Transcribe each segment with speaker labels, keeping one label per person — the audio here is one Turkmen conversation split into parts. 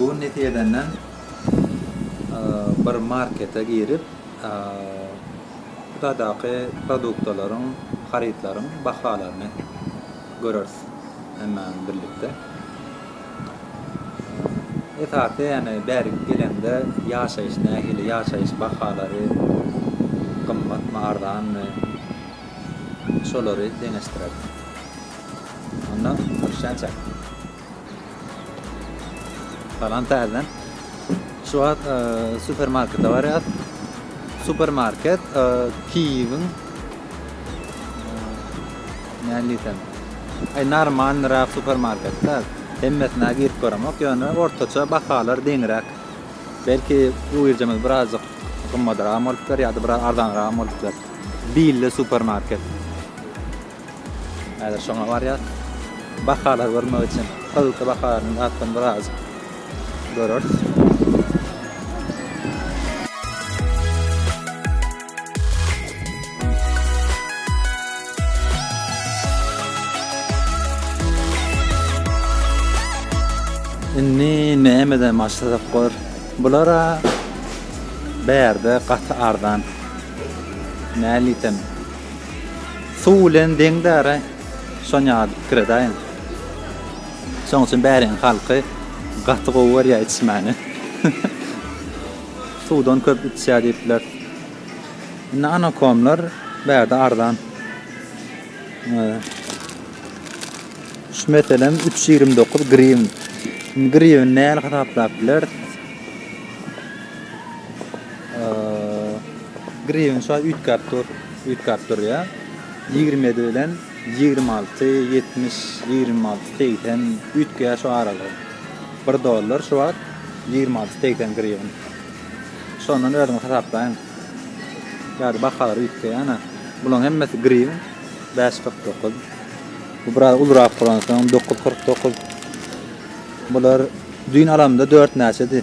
Speaker 1: Bu gün netijedenden bir markete girip, bu taýdaky produktalaryň, harytlaryň bahalaryny göreris hemme bilen birlikde. Esasy ýöne bärik geleňde ýaşaýyş nähili, ýaşaýyş bahalary gymmatmy, arzanmy, şolary deňeşdireris. Onda görüşen çek. Salam täzeden. Şu wagt e, supermarkete baryas. Supermarket e, Kiýewiň näliýsem. Ay normal rap supermarketde hemmesine girip göremok. Ýöne ortaça bahalar deňräk. Belki uýurjamyz birazcık gymmadyrak bolupdyr ýa-da biraz arzanyrak bolupdyr. Bille supermarket. Häzir şoňa barýas. Bahalar görmek üçin Gyzylky baharyny zatdan biraz göreris. Indi nämeden başlasak bor? Bulara bärde gaty arzan. Näliýsem Suw bilen deň dara şon ýaly bir pikir edäýiň. Şoň üçin bäriň halky gaty gowy görýär içmäni. Suwdan köp içýär diýip biler. Indi anakomlar bärde arzan. Şu meselem 329 griwin. Griwin näl hasaplap biler? Griwen şa üýtgäp dur, üýtgäp durýar. Ýigrimi ýedi bilen ýigrimi alty, ýetmiş, ýigrimi alty, segsen üýtgeýär şu aralygy. Bir dollar şu wagt ýigrimi alty, segsen griwen. Şondan özüňiz hasaplaýyň. Ýa-da bahalar üýtgeýär, ana. Bularyň hemmesi griwen. Bäş kyrk dokuz. Bu biraz ulurak bolansoň dokuz kyrk dokuz. Bular düýn alamda dört näçedi?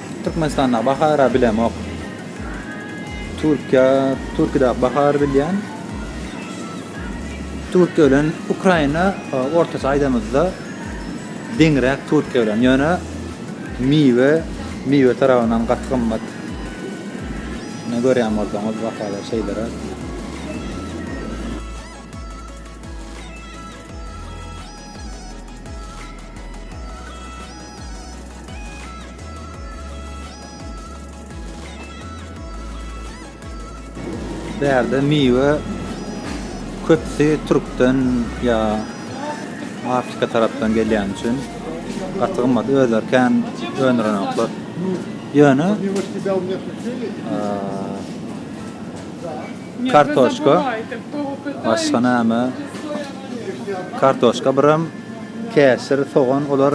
Speaker 1: Türkmenistandaky bahara bilemok. Türkiýe, Türkiýedäki bahary bilýän. Türkiýe bilen Ukraina e, ortaça aýdamyzda deňräk Türkiýe bilen. Ýöne miwe, miwe tarapyndan gaty gymmat. Ne görýän bolsaňyz bahalar şeýlere. Bärde miwe köpsi türkden ýa Afrika tarapdan gelýän üçin gaty gymmat özleri kän öndürenoklar. Ýöne kartoşka başga näme kartoşka birem käşir sogan olar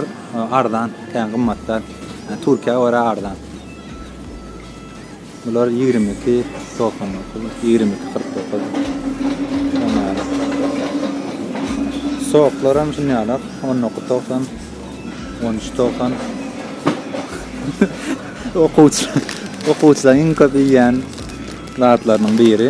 Speaker 1: Arzan kän gymmatdan Türkiýä görä arzan. Bular ýigrimi iki togsan dokuz, ýigrimi iki kyrk dokuz. Soklar hem şundan ýalak, on dokuz togsan, on üç togsan. Okuwçy, okuwçylaryň iň köp iýýän zatlarynyň biri.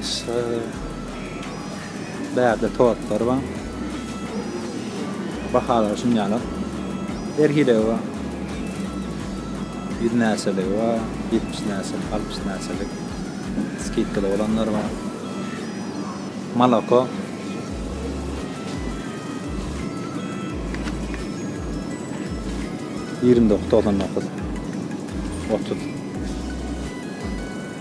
Speaker 1: Aşa bärde tortlar bar. Bahalar şunýalar. Her hilegi bar. Ýüz näçeligi bar, ýetmiş näçelik, altmyş näçelik. Skidkaly bolanlar bar. Moloko. Ýigrimi dokuz togsan dokuz. Otuz.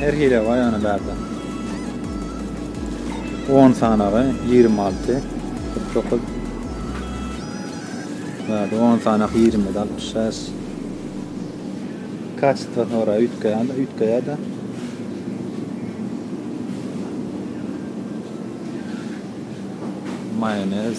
Speaker 1: Her hile bar ýagny bärde. On sanagy ýigrimi alty, kyrk dokuz. Bärde on sanak ýigrimi, altmyş bäş. Kaçytwa soraýar, üýtgeýär-de, üýtgeýär-de. Maýonez.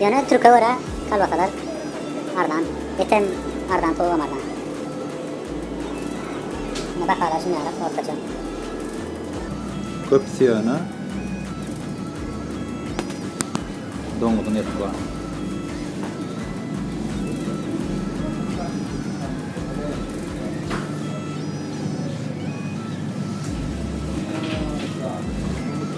Speaker 1: Ýöne türke görä kolbasalar arzan, etem arzan, towugam arzan. Indi bahalar şunýaly ortaça. Köpüsi ýöne doňuzyň eti bar.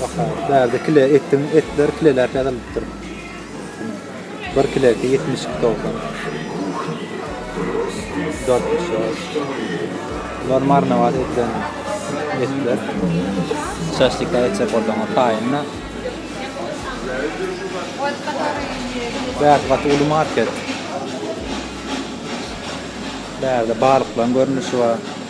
Speaker 1: Baka, bärde kile etiň, etler kileläp ýazylypdyr. Bir kilesi ýetmiş iki togsan. Bular marnawat edilen etler. Şaşlika etjek bolsaňyz taýynda. Bärde gaty uly market. Bärde balyklaryň görnüşi bar.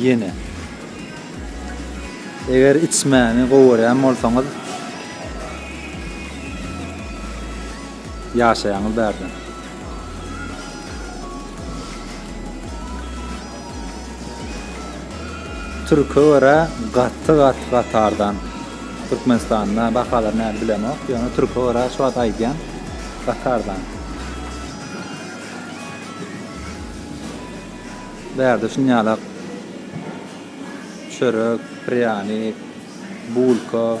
Speaker 1: Ýene. Eger içmäni gowy görýän bolsaňyz ýaşaýaňyz bärde. Türke görä gaty gat gatardan Türkmenistanda bahalar näli bilemok, ýöne türke görä şu wagt aýdýan gatardan. Bärde şinjalak çörek, prýanik, bulka,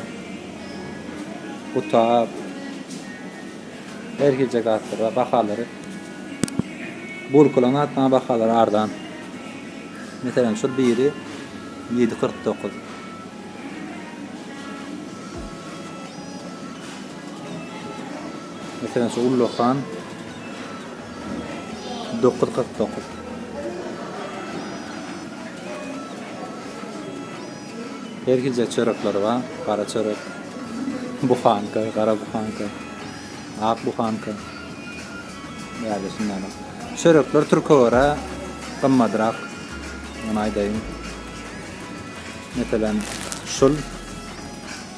Speaker 1: gutap, her hilje zatlar bar. Bahalary bulkalaryň hatda bahalary arzan. Meselem, şol biri 7.49. Meselem şu ullakan dokuz kyrk dokuz. Her hilje çörekleri bar. Gara çörek, buhanka, gara buhanka, ak buhanka. Ýa-da şundan. Çörekler türke görä gymmadrak. Muny aýdaýyn. Meselem, şul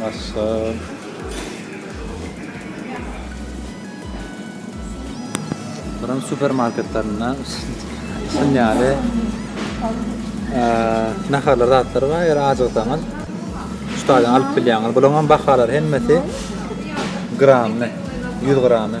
Speaker 1: Maşşaall. Buram supermarketlerinde şun ýaly naharlar zatlar bar. Eger ajyksaňyz şutadan alyp bilýäňiz. Bularyň bahalary hemmesi grammy, 100 grammy.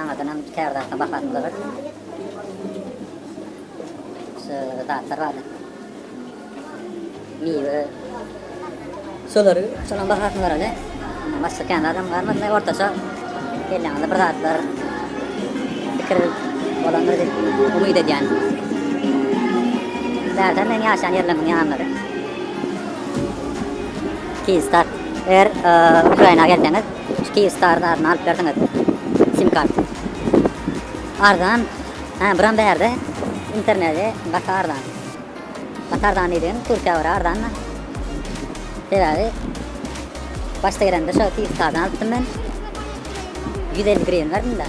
Speaker 1: Aňyrdanam käbir zatlar bahasyny görüp, şu zatlar bardy. Miwe. Şolary, şolaryň bahasyny göreli. Başga kän zadam galmady. Ortaça elleňizde bir zatlar pikir bolandyr diýip umyt edýän. Bärde men ýaşan ýerleriň ýanlary. Kizstat. Eger Ukraina gelseňiz, Kyivstar zadyny alyp berseňiz sim karty. Arzan hä buram bärde interneti gaty arzan. Gaty arzan diýdigim Türkiýä görä arzanda. Sebäbi başda gelende şo Kyivstardan alypdym men. 150 grivn berdimda.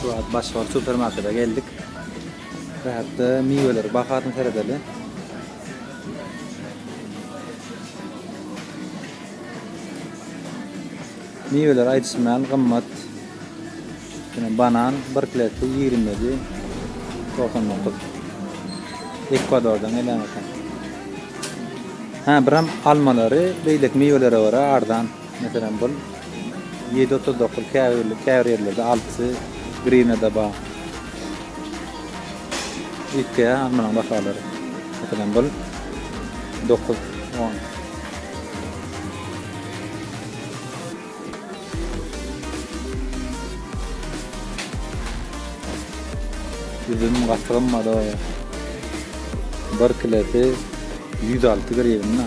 Speaker 1: Şu wagt Başgal supermarkede geldik. Bu hepde miweleri bahasyny seredeli. Miweler aýdyşman gymmat. Ýöne banan bir kilesi 27 99. Ekwadordan gelen eken. Ha, biram almalary beýleki miwelere görä arzan. Meselem bul ýedi otuz dokuz käbir käbir ýerlerde altysy grivnada bar. Üýtgeýär almanyň bahalary. Meselem bul dokuz on. Üzüm gaty gymmat o. Bir kilosy ýüz alty grivna.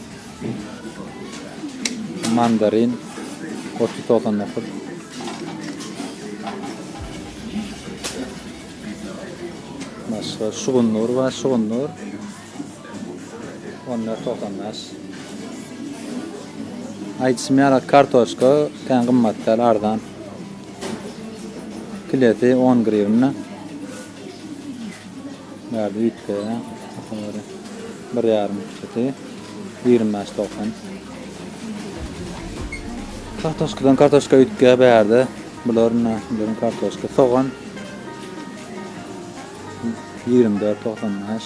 Speaker 1: Mandarin otuz üç togsan dokuz. Başga şugundur we şugundur. On dört togsan beş. Aýdyşym ýaly kartoşka kän gymmat däl, arzan. Kilesi on grivna. Bärde üýtgeýär. Hasabada bir ýarym çyky ýigrimi bäş togsan. Kartoşkadan kartoşka üýtgeýär bärde. Bular ine bularyň kartoşka, sogan ýigrimi dört togsan bäş.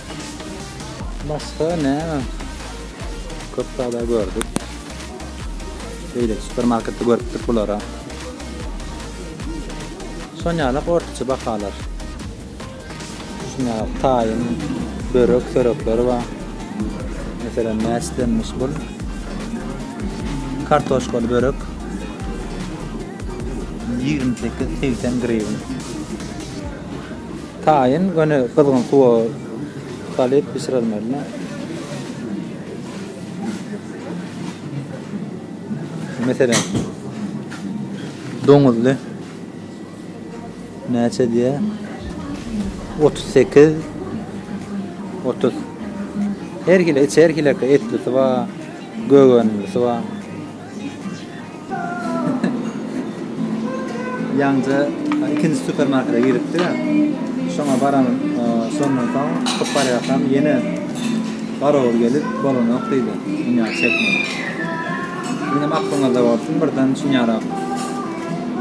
Speaker 1: Başga näme? Köp zada gördük. Beýle supermarketde görüpdik bulara. Şonýalak ortaça bahalar. Şunýalak taýyn, börek, çörekleri bar. Meselem, näçedenmiş bu? Kartoşkaly börek 28-80 grivn. Taýyn göni gyzgyn suwa salyp bişirilmeli. Meselem, doňuzly näçe diýýär? 38 30. Her hili içi her hili etli suwa, gögenli suwa. Ýaňja ikinji supermarkete giripdi. Şoňa baran şondan soň çykyp barýarkam ýene garagol gelip bolanok diýdi. Dünýä çekmeli. Ýenem aklyňyzda bolsun birden şunýara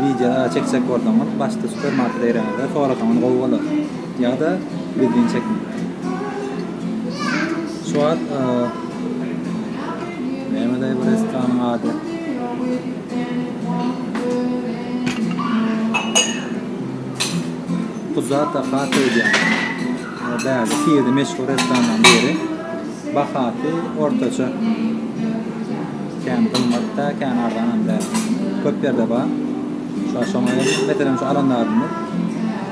Speaker 1: wideo çekjek bolsaňyz başda supermarkete gireňizde sorasaňyz gowy bolar. Ýa-da gizlin çekmek. Şu wagt nämedaý bu restoranyň ady? Puzata Hata öýdýän. Bäri Sirde meşhur restoranlaryň biri. Bahasy ortaça. Kän gymmat däl, kän arzanam däl. Köp ýerde bar. Şoňa meselem şu alan zadymyz.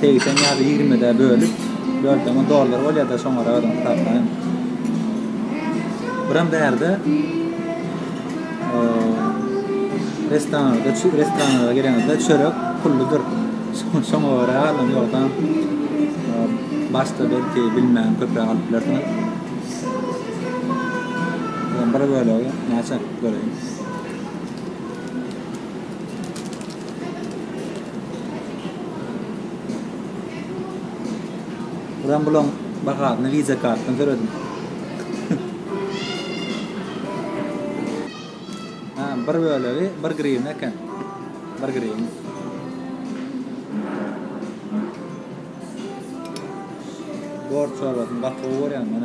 Speaker 1: Segsen ýa-da ýigrimide bölüp, bölseňem dollar bolýar-da, şoňara özüň hasapla indi. Buram bärde restoranlarda, çü restoranlara gelenizde çörek pulludyr. Şoňa görä alyn, ýogsa başda belki bilmän köpräk alyp bilersiňiz. Bir bölegi näçe göreýin. Buram bulaň bahasyny Visa kartdan töledim. Ha, bir bölegi 1 grivna eken. 1 grivna. Bor çorbasyny gaty gowy görýän men.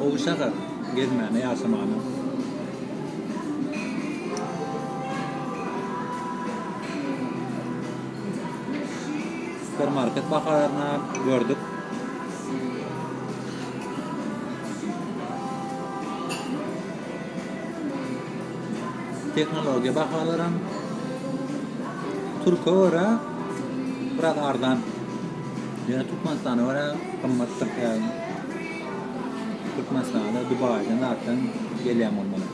Speaker 1: Gowy şäher, gezmäne, ýaşamana. Supermarket baharyna gördük. Tehnologiýa bahalaram türke görä biraz arzan. Ýöne Türkmenistana görä gymmatdyr käbir. Türkmenistana Dubaýdan zatdan gelýän bolmaly.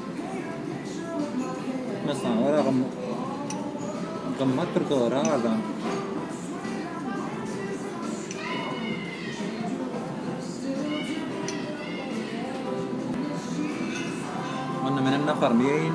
Speaker 1: Türkmenistana görä gymmat. Gymmat Türkiýe arzan. Onda menem naharymy ýeýin.